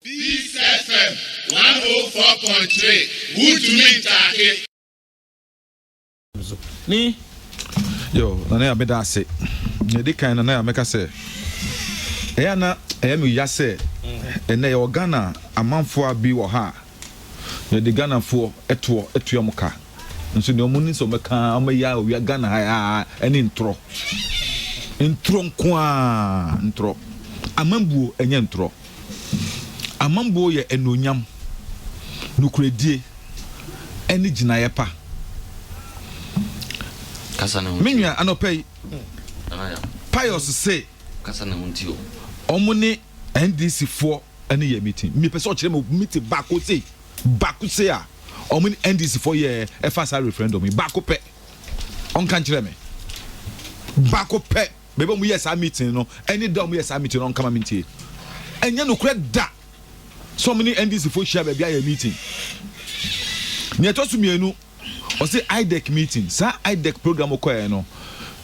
Peace FM one oh four point three wotumi ntaake. Ni yo nana ya meda ase na ɛdi kan nana ya mɛka sɛ ɛyɛ na ɛyɛ me ya sɛ ɛnɛ yɛwɔ Ghana amanfoɔ bi wɔ ha a Yɛde Ghanafoɔ toɔ tua mo ka. Nso deɛ wɔn ni sɛ wɔbɛka ara, wɔbɛyɛ ara owia Ghana ha ara ɛne ntorɔ. Ntorɔ nko ara, ntorɔ. Amambuo ɛnyɛ ntorɔ. Amambuo yɛ anuonyam, nokorɛdie ɛne gyinaeɛ pa. Me nua anɔpɛ yi, Pius se wɔn ne NDC foɔ ɛne yɛ meeting mepɛ sɛ ɔkyerɛ me meeting baako sei baako sei a ɔmo ne NDC fo yɛ ɛfa saa referendum yi baako pɛ ɔnka nkyerɛ me baako pɛ bɛbɛ ɔmo yɛ saa meeting no ɛne da ɔmo yɛ saa meeting no ɔnka ma me ntie ɛnyɛ nokorɛ da sɛ ɔmo ne NDC fo hyia baabi ayɛ meeting nea ɛtɔ so mmienu Ɔse IDEC meeting, saa IDEC program wokɔɛɛ no,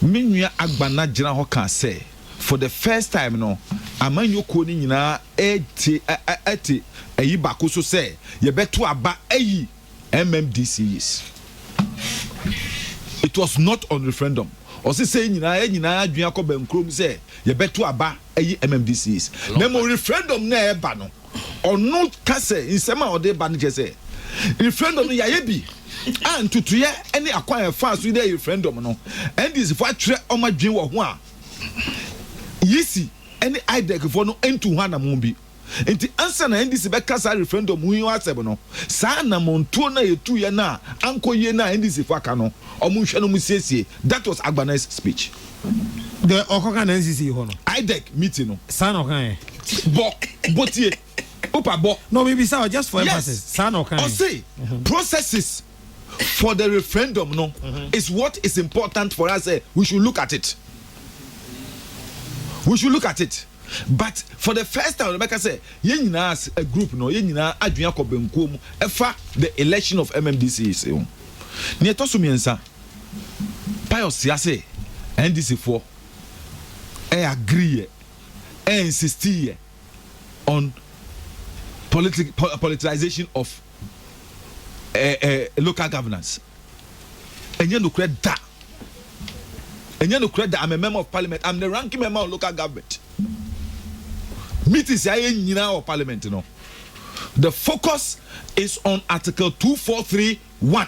me nua Agbana gyina hɔ ka sɛ for the first time no amanyɔkuo no nyinaa ɛɛtie ɛte ayi bako so sɛ yɛbɛto aba ayi MMDCs. It was not on referendum. Ɔse sɛ nyinaa yɛ nyinaa adwene akɔ bɛnkurom sɛ yɛbɛto aba ayi MMDCs. Na mmom referendum no a ɛɛba no, ɔno ka sɛ nsɛm a ɔde ba no kyerɛ sɛ referendum no yɛayɛ bi a ntutueɛ ne akwan a ɛfaa so dɛ referendum no ndc fo atwerɛ ɔma dwen wɔ ho a yisi ne idec fo no ntu ho anamon bi nti ansa na ndc bɛka saa referendum ho yi asɛm no saa anamontuo no a yɛtuiɛ no a ankɔ yie no a ndc fo aka no ɔmo nhwɛ no ɔmo siesie that was Agbanai's speech Dɛ ɔkɔ ka na NCC hɔ no. IDEC meeting no. Saa na ɔka ɛ. Bɔ, bɔ tie, Opa bɔ. No me bisa wo just for emphasis. Yes. Saa na ɔka ɛ. Ɔse processes for the referendum no is what is important for us sɛ we should look at it. We should look at it. But for the first time ɔbɛka sɛ yɛn nyinaa as a group no yɛn nyinaa adwene akɔ bɛnkuo mu ɛfa the election of MMDC se ho. Nea ɛtɔ so mmiɛnsa. Pius hyia se NDC foɔ ɛ agree yɛ, ɛ insistii yɛ on politic politicization of ɛ ɛ local governance. Ɛnyɛ nokorɛ da. Ɛnyɛ nokorɛ da. I'm a member of parliament. I'm the ranking member on local government. Meetings a yɛ nyinaa wɔ parliament no, the focus is on article 243 1.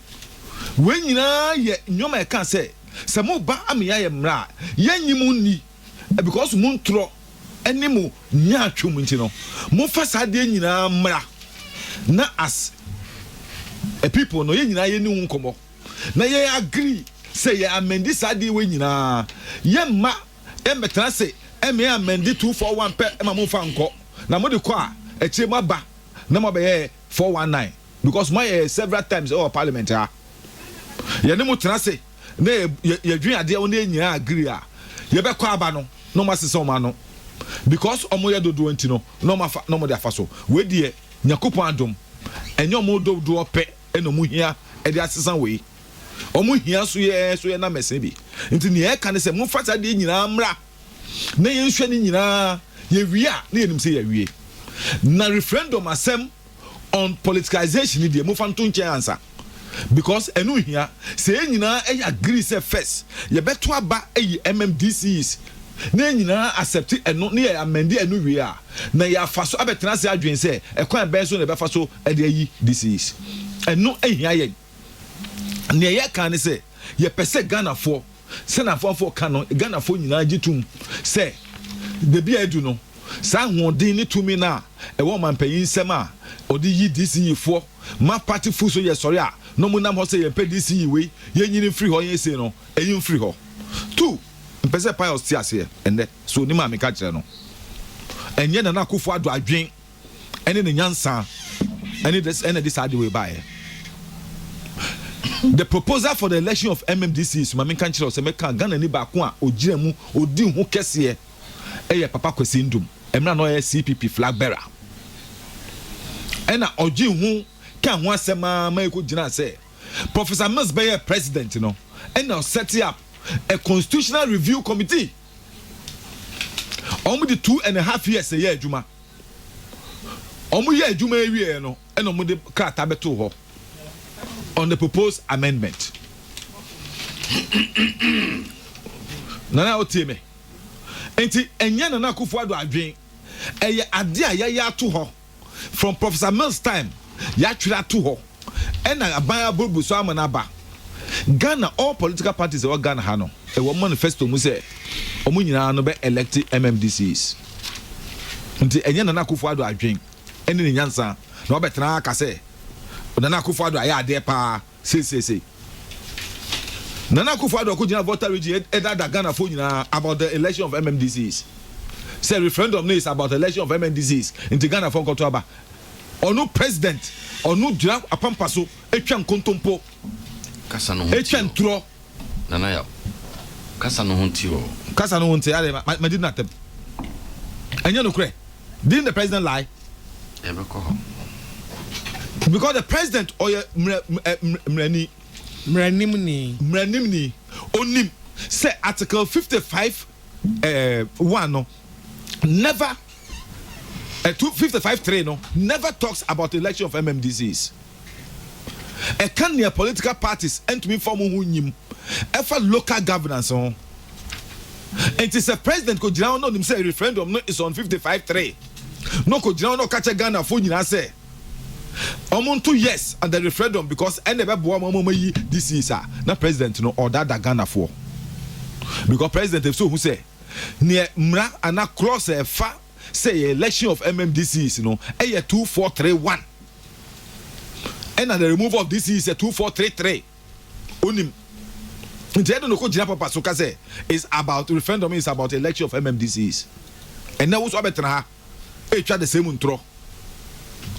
Wei nyinaa yɛ nneɛma a ɛka sɛ, sɛ moba ama yɛayɛ mmara a, yɛrennye mo nni because mo ntorɔ ne mo nyaatwom nti no, momfa saa adeɛ nyinaa mmra na as a people no, yɛn nyinaa yɛni ho nkɔmmɔ na yɛ agree sɛ yɛ amɛndi saa adeɛ wei nyinaa. Yɛmma yɛmmɛtena ase ma yɛ amɛndi two four one pɛ ma momfa nkɔ, na mode kɔ a, akyire moaba na moabɛyɛ four one nine because moayɛ yɛ several times ɛwɔ parliament ha yɛne mo tena se na yɛdwen adeɛ wo ne nyinaa agree a yɛbɛkɔ aba no na ɔmo asesa ɔmo ano because ɔmo yɛ dodoɔ nti no na ɔmo afa na ɔmo de afa so wei deɛ nyakopɔn adom ɛnyɛ ɔmo dodoɔ pɛ ɛna ɔmo hia ɛde asesa wei ɔmo hia so yɛ so yɛ na mɛsɛn bi nti nea ɛka ne sɛ mo fa saa deɛ nyinaa mmra na yɛnhwɛ ne nyinaa, yɛwie a na yɛnim sɛ yɛawie. Na referendum asɛm on politicization no deɛ momfa nto nkyɛn ansa because ɛno nhia. Sɛ yɛn nyinaa ɛyɛ agree sɛ first yɛbɛto aba ayi MMDCs na yɛn nyinaa accept ɛno na yɛ amend ɛno wie a, na yɛafa so abɛtena ase adwen sɛ ɛkwan bɛn so na yɛbɛfa so de ayi DCs. Ɛno nhia yɛn. nea yɛ kan ne sɛ yɛpɛ sɛ ghanafoɔ sɛna afoafoɔ ka no ghanafoɔ nyinaa gye tom sɛ dabi a adu no saa ahoɔden ne tumi no a ɛwɔ ɔmampanyin nsɛm a ɔde yi dce foɔ ma party fo so yɛ sɔre a na ɔmo nam hɔ sɛ yɛmpɛ dce wei yɛnyini mfiri hɔ yɛn sei no ɛyi mfiri hɔ tu mpɛ sɛ pius te aseɛ ɛnɛ so onim a meka kyerɛ no ɛnyɛ nana akufo ado adwen ɛne ne nyansa ɛne this ɛna ɛde saa de wei baeɛ the proposal for the election of mmdc is maame nka nkyerɛ sɛ mɛka ghana ni baako a ogyina mu odi ho kɛseɛ ɛyɛ papa kwasi ndom ɛmira na ɔyɛ cpp flag bearer ɛna ɔgye ho ka ho asɛm a ma ɛkɔ gyina sɛ professor mills bɛyɛ president no ɛna ɔset up a constitutional review committee wɔn de two and a half years ɛyɛ adwuma. wɔyɛɛ adwuma yi wieɛ no na wɔde krataa bɛtoo hɔ on the proposed amendment nana wotie me nti ɛnyɛ nana akufo ado adwen ɛyɛ ade a yɛayɛ ato hɔ from professor mills time yɛatwerɛ ato hɔ Ɛna aban aburubu so ama no aba. Ghana all political parties a ɛwɔ Ghana ha no ɛwɔ wɔn manifesto mu sɛ wɔn nyinaa no bɛ elect MMDCs. Nti ɛnyɛ Nana Akufo Addo adwen ɛne ne nyansa na wabɛ tena ha aka sɛ Nana Akufo Addo ayɛ adeɛ paa seisesei. Nana Akufo Addo ako gyina Volta region ɛdaadaa Ghana foɔ nyinaa about the election of MMDCs sɛ referendum no is about election of MMDCs nti Ghana foɔ nkɔto aba. Ɔno president ɔno gyina apampa so twa nkontompo Kasa no ho nti twa oo. ntorɔ. Nana Yaw, kasa no ho nti oo. Kasa no ho nti adɛn ma ma didi n'atam? Ɛnyɛ nokorɛ? Didn't the president lie? Yɛbɛkɔ hɔ. Because the president ɔyɛ mmerɛ ɛ mmerɛni. Mmerɛnimni. Mmerɛnimni. Ɔnim sɛ article fifty five ɛɛ one no never. ɛto fifty five three no never talks about election of MMDCs. Ɛka nea political parties ntumi mfa wɔn ho nyim ɛfa local governance ho. Nti sɛ president kɔ gyina hɔ na onim sɛ referendum no is on fifty five three na ɔkɔ gyina hɔ na ɔka kyɛ Ghana fo nyinaa sɛ wɔn nto yes on the referendum because ɛna ɛbɛboa wɔn ama wɔn ayi DCs a na president no ɔdaadaa Ghana foɔ because president ɛfisɛ ohun sɛ. Nea mmara anaa clause a ɛfa sɛ ɛyɛ election of MM DCEs no yɛ two four three one ɛna the removal of DCEs yɛ two four three three. Onim. Nti ɛde no kɔ gyina papa so ka sɛ is about referendum is about election of MM DCEs. Ɛnɛ wo so abɛtena ha ɛretwa the same ntorɔ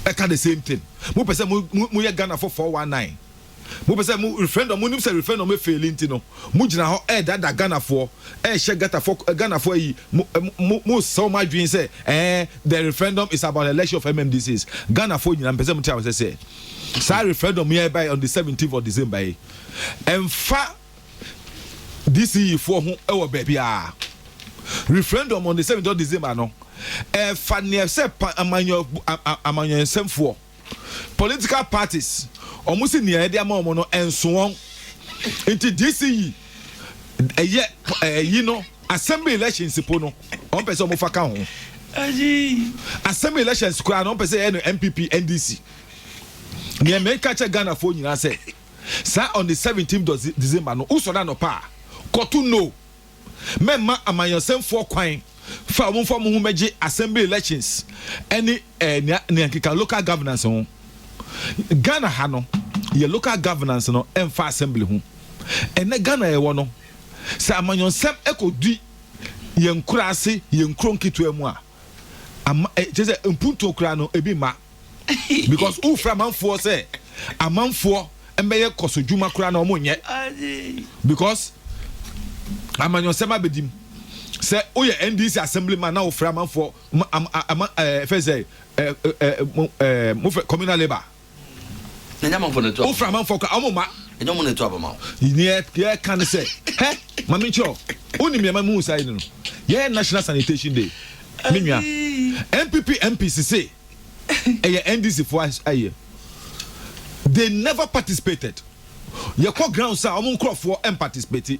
ɛka the same thing. Mo pɛ sɛ mo mo yɛ Ghana fo four one nine. Mopɛ sɛ mo referendum, monim sɛ referendum e faili nti no, mo gyina hɔ ɛredaadaa Ghanafoɔ, ɛrehyɛ Gatafoɔ, Ghanafoɔ ayi, mo, mo, mo sɛ wɔn adwene sɛ, ɛɛ, the referendum is about election of MMDCs. Ghanafoɔ nyinaa, mpɛ sɛ mo te awɛsɛ sɛ, saa referendum yi a ɛbae on the 17th of December yi, ɛmfa DCEfoɔ ho ɛwɔ baabiara. Referendum on the 17th of December no, ɛfa neɛ sɛ pa, amanyɔ, amanyɔnsɛmfoɔ, Political parties wɔn se nea yɛde ama wɔn no ɛnso wɔn nti DC yi ɛyɛ ɛyi no assembly elections po no wɔn pɛ sɛ wɔn fa ka ho assembly elections koraa no wɔn pɛ sɛ yɛ no NPP NDC nea mɛka kyɛ Ghana foɔ nyinaa sɛ saa on the 17 December no wosɔre anɔpa a kɔto no. mɛmma amanyɔsɛmfoɔ kwan fa a wɔmfa wɔn ho mmɛgye assembly elections ne eh, nea, nea nkeka local governance ho. Ghana ha no, yɛ local governance no mfa assembly ho. Ɛnɛ Ghana a yɛwɔ no, sɛ amanyɔsɛm ɛkɔdi yɛn nkuraase, yɛn nkuro nketewa mu a, ama eh, kyerɛ sɛ mpuntuo koraa no ebi mma because wofrɛ amanfoɔ sɛ amanfoɔ mbɛyɛ kɔso dwuma koraa na wɔn nyɛ because amanyɔsɛm abɛdim sɛ woyɛ ndc assembly man na wofrɛ amanfoɔ ama ama ɛɛ fɛ sɛ ɛɛ ɛɛ mo fɛ communal labour. Ɛnyɛ amanfoɔ na ɛtu aba. Wofrɛ amanfoɔ koraa a, wɔn mma. Ɛnyɛ wɔn na ɛtu aba ma wo. Nea yɛka ne sɛ, hɛ, ma menkyerɛ wo, wonim nea ɛma mehuu saa yei no no? Yɛyɛ National Sanitation Day, me nua. NPP MPs se ɛyɛ NDC foɔ ayɛ. They never participated. Yɛkɔ grounds a, wɔn nkurɔfoɔ mparticipate.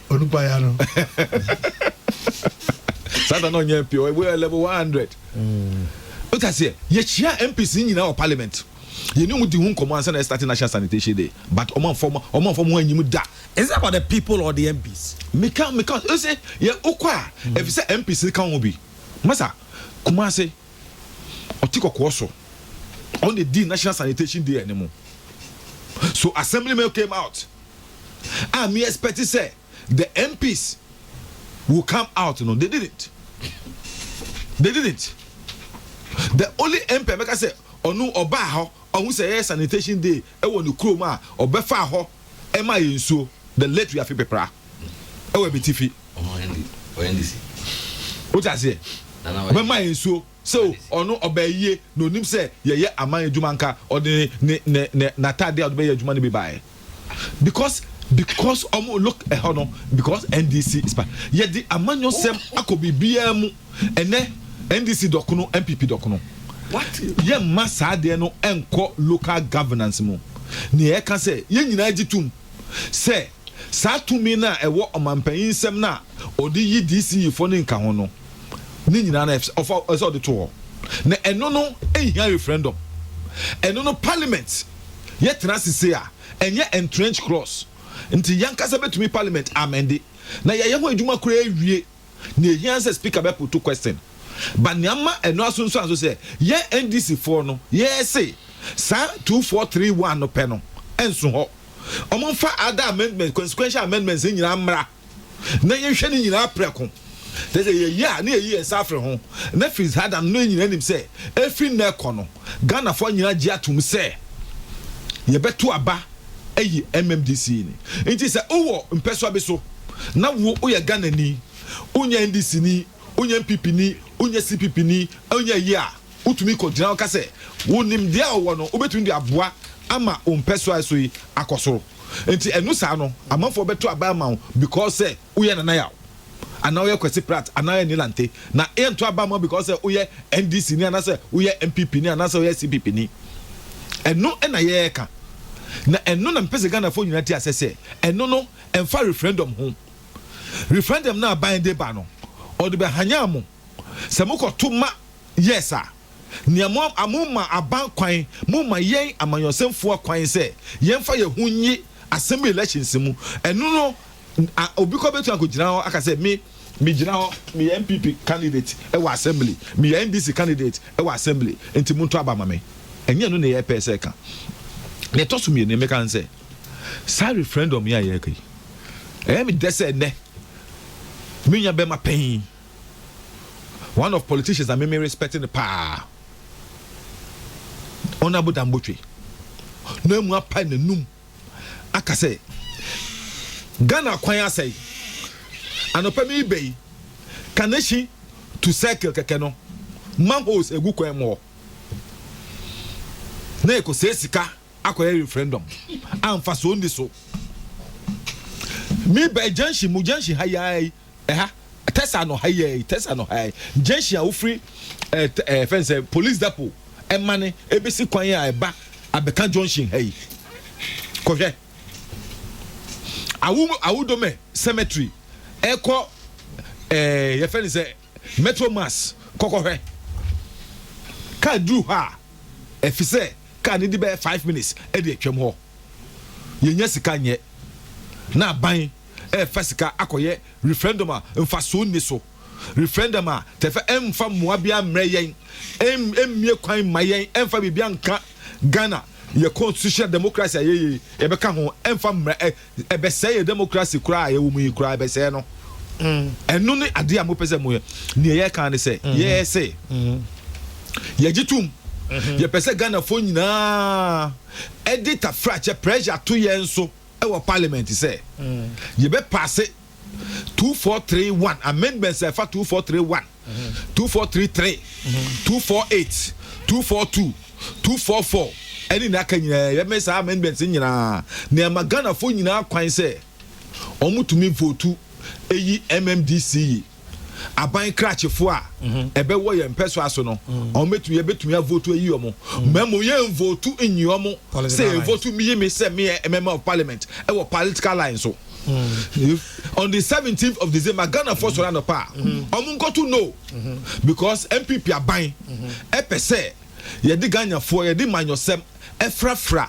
onipa ya no sata na ɔnyɛ mpi ɔwɔ level one hundred o ta seɛ yɛkyia mps ni nyinaa wɔ parliament yɛne ɔmo di ho nkɔmɔ ansa na yɛ start national sanitation day but ɔmo anfɔ ɔmo ɔmo anfɔ ɔmo ho anyim da. is that about the people or the mps. meka meka ɔsɛ yɛ okɔ a mm. efisɛ mps ni ka ho bi masa kumase ɔte kɔkɔɔ so ɔn de di national sanitation day ɛne mo so assemblyman came out. a me expect sɛ the MPs will come out no they didn't they didn't the only MP a mɛka sɛ ɔno ɔbaa hɔ ɔhu sɛ yɛyɛ sanitation day ɛwɔ ne kurom a ɔbɛfaa hɔ ɛma yɛ nsuo the late wiafe pepra ɛwɔ abitifi wote aseɛ ɔbɛma yɛ nsuo So ɔno ɔbaayie na ɔnim sɛ yɛyɛ aman adwuma nka ɔde ne ne ne n'ataadeɛ a ɔde bɛyɛ adwuma no bi baeɛ because because wɔn look ɛhɔ no because NDC is part yɛde amanyɔsɛm akɔ biribiara mu ɛnɛ NDC dɔkono NPP dɔkono yɛmma saa adeɛ no ɛnkɔ local governance mu nea ɛka sɛ yɛn nyinaa gye tum. sɛ saa tumi no a ɛwɔ ɔmampanyin nsam no a ɔde yi DCEfo no nka ho no, ne nyinaa no ɔfa sɛ ɔde to hɔ. Na ɛno no nhia referendum. Ɛno no parliament yɛ tena ase sei a, ɛnyɛ entrenched clause. Nti yɛn ankasa betumi parliament amende na yɛayɛ ho adwuma koraa awie. nea ehia ne sɛ Speaker bɛputu question. But nea ama ɛno asunsuan so sɛ yɛn NDC foɔ no yɛɛ se saa two four three one no pɛ no nso hɔ. Wɔn mfa other amendments, consequential amendments no nyinaa mmra na yɛn hwɛ ne nyinaa prɛko. Te sɛ yɛyɛ a na yɛyi yɛn nsa afiri ho. Na Fritz Haddam no yɛn nyinaa nim sɛ efiri nnɛ kɔ no Ghanafoɔ nyinaa gye atom sɛ yɛbɛto aba. Eyi mmam de sii ni. Nti sɛ wowɔ mpɛsoa bi so na wo woyɛ Ghanani, wonyɛ NDC ni, wonyɛ NPP ni, wonyɛ CPP ni, wonyɛ ayi a, wotumi kɔ gyina hɔ ka sɛ wo nimdeɛ a wowɔ no wobɛtumi de aboa ama wo mpɛsoa a ɛso yi akɔ soro. Nti ɛno saa no amanfoɔ bɛto aba ama wo because sɛ. Woyɛ Nana Yaw anaa woyɛ Kwasi Pratt anaa Annie Lante na yɛnto aba mma wo because sɛ woyɛ NDC ni anaasɛ woyɛ NPP ni anaasɛ woyɛ CPP ni. Ɛno na yɛreka na ɛno na mepɛ sɛ Ghanafoɔ nyinaa te asɛ sɛ ɛno no ɛmfa referendum ho. Referendum no a Biden de ba no ɔde bɛhanyan mo sɛ mokɔto ma yes a. Nea mo a momma aban kwan, momma yɛn amanyɔsɛmfoɔ kwan sɛ yɛmfa yɛn ho nnye asɛm elections mu. Ɛno no a obi kɔ bɛtumi akɔgyina hɔ aka sɛ me megyina hɔ meyɛ NPP candidate wɔ assembly, meyɛ NDC candidate wɔ assembly nti monto aba ma me. Ɛnyɛ ɛno na yɛpɛ sɛ ɛka. Nea ɛtɔ so mmienu nea meka ne sɛ saa referendum yi a yɛreka yi ɛyɛ me dɛ sɛ ɛnnɛ me nua bɛma panyin, one of politicians a meme respect no paa ɔno abodambotwe na mu apae n'anum aka sɛ Ghana kwan asɛe anɔpa mi bɛyi kanehyi to circle kɛkɛ no manholes egu kwan mu hɔ na ɛkɔsɛe sika akɔyɛ referendum amfa so nni so mi bɛyi junction mu junction ha yi Ɛha, Tɛsa anɔha yi ara yi, Tɛsa anɔha yi ara yi, junction a wofiri ɛɛ t ɛɛ fɛn no sɛ police depot ɛmane ɛbɛsi kwan yi a ɛba abɛka junction ha yi. Kɔhwɛ Awo Awodome cemetery ɛkɔ ɛɛ yɛfɛ no sɛ metro mass kɔ kɔhwɛ. Kaa duru hɔ a ɛfi sɛ kaa no di bɛyɛ five minutes ɛde atwam hɔ. Yɛnnya sika nyɛ na aban. refa sika akɔyɛ referendum a mfaso nni so, referendum a tɛfɛ ɛmfa mmoa biara mmrɛ yɛn, ɛmmue kwan mma yɛn ɛmfa biribiara nka Ghana, yɛn constitutional democracy a ɛyɛ yie yɛbɛka ho ɛmfa mmrɛ, ɛbɛsɛe yɛn democracy koraa a yɛwɔ mu yi koraa, ɛbɛsɛe no. Ɛno ne adeɛ a mopɛ sɛ moyɛ. Deɛ yɛka ne sɛ, yɛse yɛgye tom, yɛpɛ sɛ Ghanafoɔ nyinaa de tafrakyɛ, pressure, to yɛn so. wɔ Parliament sɛ yɛbɛ paase two four three one amendments a ɛfa two four three one, two four three three, two four eight, two four two, two four four ɛne nea aka nyinaa yɛbɛ saa amendments nyinaa na ɛma Ghanafoɔ nyinaa kwan sɛ wɔn tumi votu eyi MMDC yi. aban krakyefo a ɛbɛwɔ yɛn mpɛsoa so no wɔn bɛtumi yɛbɛtumi avotu ayi wɔn mɛ mo yɛn votu nyi wɔn sɛ yɛn votu mi yi mi sɛ mi yɛ member of parliament ɛwɔ political line so on the seventeenth of december ghana fo sɔrɔ anɔpa a wɔn nkɔtu no because npp aban ɛpɛ sɛ yɛde ghana fo yɛde manyɔsɛm ɛfrafra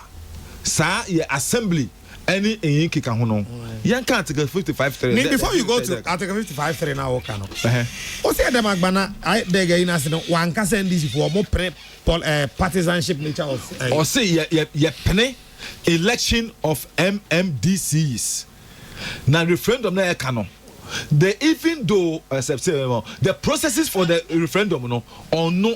saa yɛ assembly. ɛne ɛyi nkeka ho no yɛn ka article fifty five three. mi before you go to article fifty five three na awo ka no. o sɛ ɛdɛm agbana dɛg ayi n'ase no wɔn ankasa ndc fo wɔn pene pol ɛɛ eh, partisanship nature of. ɔsi eh. yɛ yɛ yɛ pene election of mmdcs na referendum na yɛ ka no. The even though uh, the processes for the referendum no or no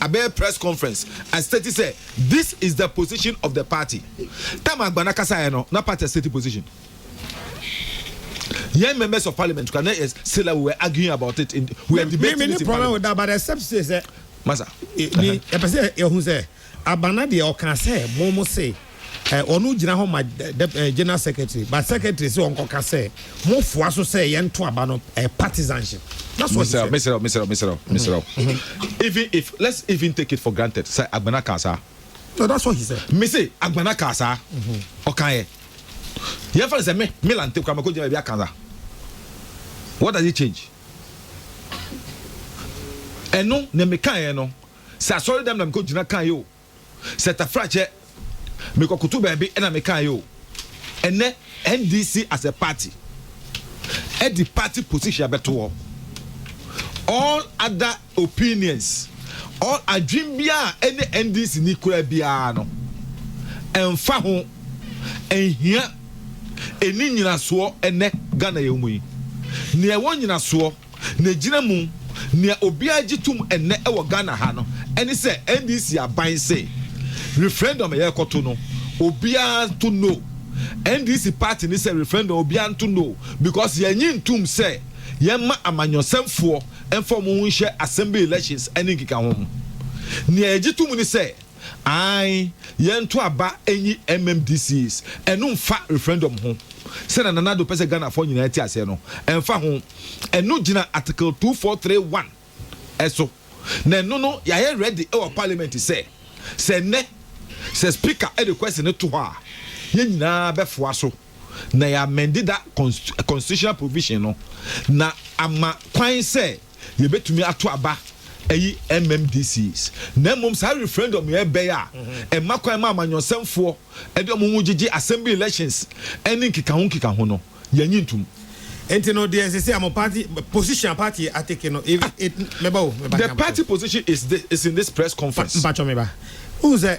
Abɛyɛ press conference a state sɛ this is the position of the party. Time a Agbana kasaeɛ no na party a state position. Yɛn members of parliament kora na yɛ still a we were arguing about it in we were debating it in parliament. Me ne problem da but except say sɛ. Masa. Ni yɛpɛ sɛ yɛhu sɛ Agbana deɛ ɔka sɛ mo mo se. eh, ɔno gyina hɔ ma eh, eh, general secretary but secretary sɛ ɔnkɔka sɛ mofoa so sɛ yɛnto aba no eh, partisanship that's what he said. Mr. Mr. Mr. Mr. Mm-hmm. Even if let's even take it for granted sɛ agbana kan saa. No, that's what he said. Me say agbana kan saa ɔkan yɛ yɛn fɛn sɛ me me lante kura mako gyina ebi akan saa what does it change? ɛno na mekan yɛ no sɛ asɔre dɛm na mekɔ gyina kan yɛ o Sɛ tafrakyɛ mekɔkoto baabi na mekaeɛ o, ɛnnɛ NDC as a party ɛde party position bɛto hɔ. All other opinions, all adwene biara a ɛne NDC ni koraa biara no, ɛmfa ho, ɛnhia, ɛnni nyinasoɔ ɛnnɛ Ghana yɛwɔ mu yi. Nea ɛwɔ nyinasoɔ Na egyina mu. Nea obiara gye tom nnɛ wɔ Ghana ha no ne sɛ NDC aban se referendum a yɛrekɔto no obiara nto no. NDC party no sɛ referendum obiara nto no because yɛnnye ntom sɛ yɛmma amanyɔsɛmfoɔ mfa wɔn ho nhyɛ assembly elections ne nkekaho ho. Nea yɛgye tom ne sɛ. Ae, yɛnto aba nyi MMDCs, ɛno mfa referendum ho. Sɛnea Nana Addo pɛ sɛ Ghanafoɔ nyinaa ti aseɛ no, ɛmfa ho. Ɛno gyina Article two four three one so, na ɛno no yɛayɛ ready wɔ Parliament sɛ, sɛ nnɛ, sɛ Speaker de question no to hɔ a, yɛn nyinaa bɛfoa so na yɛamend that constitutional provision no na ama kwan sɛ, yɛbɛtumi ato aba ayi MMDCs, na mmom saa referendum yɛ bɛyɛ a ɛma kwan ma amanyɔsɛmfoɔ de wɔn ho gyegye assembly elections ne nkekaho nkekaho no, yɛnnye ntom. Nti no deɛ sɛsɛ a mo party position a party yɛ atake no, if it, meba o, meba nka mo. The party position is this, is in this press conference. Mpakyɛw meba, wohu sɛ.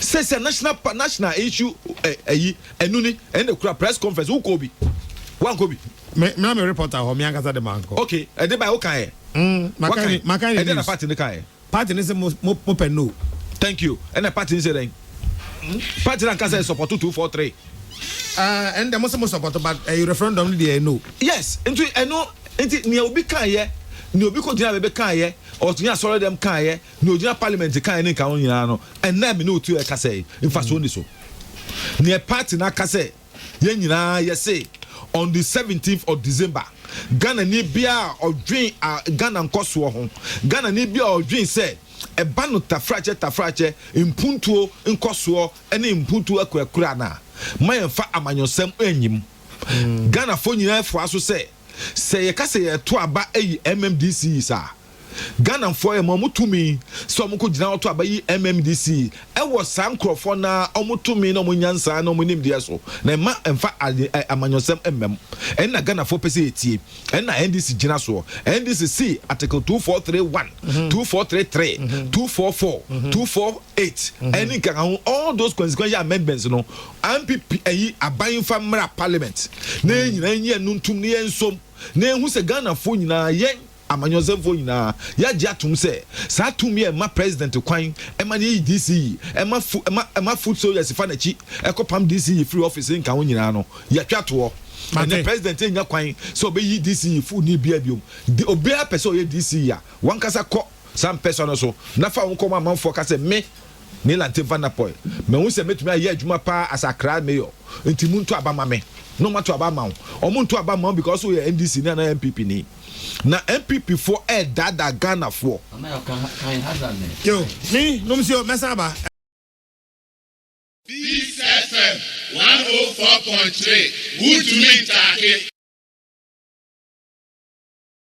Sɛ sɛ national pa national issue ɛ eh, ɛyi eh, ɛnu ni ɛna ekura press conference wokɔ bi wankɔ bi. Me me na me reporter hɔ me ankasa de mankɔ. Okay ɛde ba yɛ wokan yɛ. Mm, makan ni makan ni news. Ɛde na party ne kan yɛ. Party ne se mo mo mo pɛ no. Thank you ɛna party ne se dɛn. Party na nkasa yɛ support two four three. Ah ɛn dɛ mo se mo support but ɛyi referendum ne de yɛ no. Yes nti ɛno nti nea obi kan yɛ nea obi kɔ gyina bɛbɛ kan yɛ ɔtumi asɔre dɛm kan yɛ. Nea ogyina parliament kae ne nkaho nyinaa no, ɛnnɛ a me ne wo te hɔ ɛkasa yi, mfasoɔ nni so. Nea party no aka sɛ yɛn nyinaa yɛse on the seventeenth of December, Ghanani biara a ɔdwen a Ghana nkɔsoɔ ho, Ghanani biara a ɔdwen sɛ ɛba no tafrakyɛ tafrakyɛ mpuntuo nkɔsoɔ ne mpuntuo akurakura no a, ma yɛmfa amanyɔsɛm nyi mu. Ghanafoɔ nyinaa fua so sɛ, Sɛ yɛka sɛ yɛreto aba ayi MMDC yi saa a, Ghanafoɔ yɛ ma wɔn tumi sɛ wɔkɔgyina wɔto aba yi MMDC yi wɔ saa nkorɔfoɔ no ara wɔn tumi ne wɔn nyansa ne wɔn nimdeɛ so na mma mfa amanyɔsɛm mma mu. Ɛno na Ghanafoɔ pɛ sɛ yɛtie. Ɛno na NDC gyina soɔ. NDC see Article 2431, 2433, 244, 248 ɛne nkekaho all those consequential amendments no Ampp ayi aban mfa mmra parliament na yɛn nyinaa nyi ɛno ntom na yɛnsom na yɛnhu sɛ Ghanafoɔ nyinaa, yɛn amanyɔsɛmfoɔ nyinaa, yɛagye atom sɛ saa tumi a ɛma president kwan ma no yi DC yi, ɛma fu, ɛma, ɛma foot soldiers fa n'akyi kɔpam DC yi firi office nka ho nyinaa no, yɛatwa toɔ. Ɛnnɛ Mate. president nnya kwan sɛ ɔbɛyi DC fooni biara biom. De, obiara pɛ sɛ ɔyɛ DC a, wankasa kɔ. Saa mpɛsoa no so na fa wo nkɔm a amanfoɔ ka sɛ me, Nilante Van Apoy, mahu sɛ mɛtumi ayɛ adwuma pa ara as Accra Mayor, nti monto aba mma me na wɔato aba ama wo. Wɔnto aba mma wo because woyɛ NDC ni anaa NPP ni. Na NPP foɔ ɛredaadaa Ghana foɔ. Yo, me, nom nsi o, mɛsan aba. Peace FM one oh four point three wuntumi ntaake.